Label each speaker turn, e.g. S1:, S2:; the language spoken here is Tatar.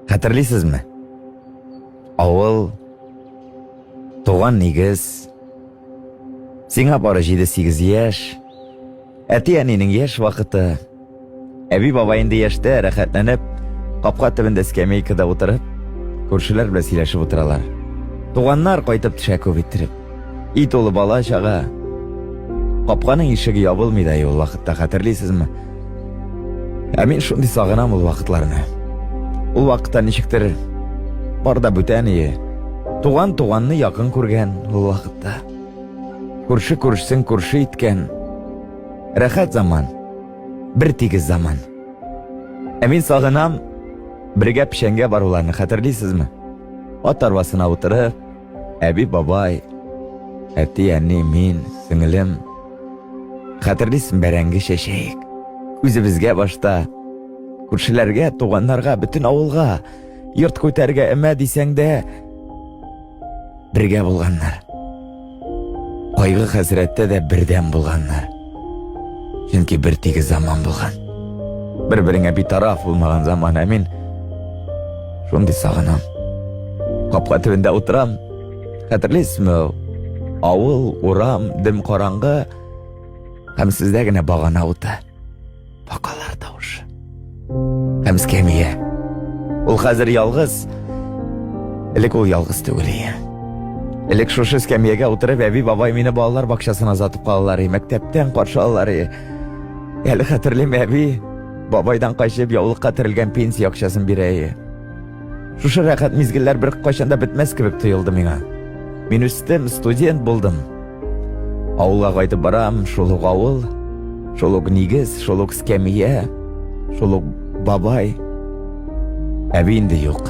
S1: Хәтерлисезме? Авыл, туган нигез, сиңа бары 7-8 яшь, әти-әнинең яшь вакыты, әби баба инде яшьтә рәхәтләнеп, капка төбендә скамейкада утырып, күршеләр белән сөйләшеп утыралар. Туганнар кайтып төшә күп иттереп. И тулы бала чага. Капканың ишеге ябылмый да ул вакытта хәтерлисезме? Ә мин шундый сагынам ул вакытларны. Ул вакытта ничектер бар да бүтән ие. Туган туганны якын күргән ул вакытта. Күрше күршесен күрше иткән. Рәхәт заман. Бер тигез заман. Ә мин сагынам бергә печәнгә баруларны хәтерлисезме? Ат арбасына утырып, Әби, бабай, әти, әни, мин, сеңелем. Хәтерлисен бәрәңге чәчәек. Үзебезгә башта, күршеләргә, туганнарга, бөтен авылга, йорт күтәргә эмә дисәң дә, бергә булганнар. Кайгы хәсрәттә дә бердәм булганнар. Чөнки бер тигез заман булган. Бер-береңә битараф булмаган заман, ә мин шундый сагынам. Капка төбендә утырам. Хәтерлисезме? Авыл, урам, дем караңгы һәм сездә генә багана уты. Бакалар тавышы. Һәм скемия. Ул хәзер ялгыз. Элек ул ялгыз түгел иде. Элек шушы скамьяга утырып әби бабай мине балалар бакчасына озатып калалар и мәктәптән каршы алалар и. Әле хәтерлим әби бабайдан качып яулыкка терелгән пенсия акчасын бирә и. Шушы рәхәт мизгелләр бер кайчан да бетмәс кебек тоелды миңа. Мин үстем, студент булдым. Авылга кайтып барам, шул ук авыл, шул ук нигез, шул ук скәмия, шул ук бабай. Әби инде юк.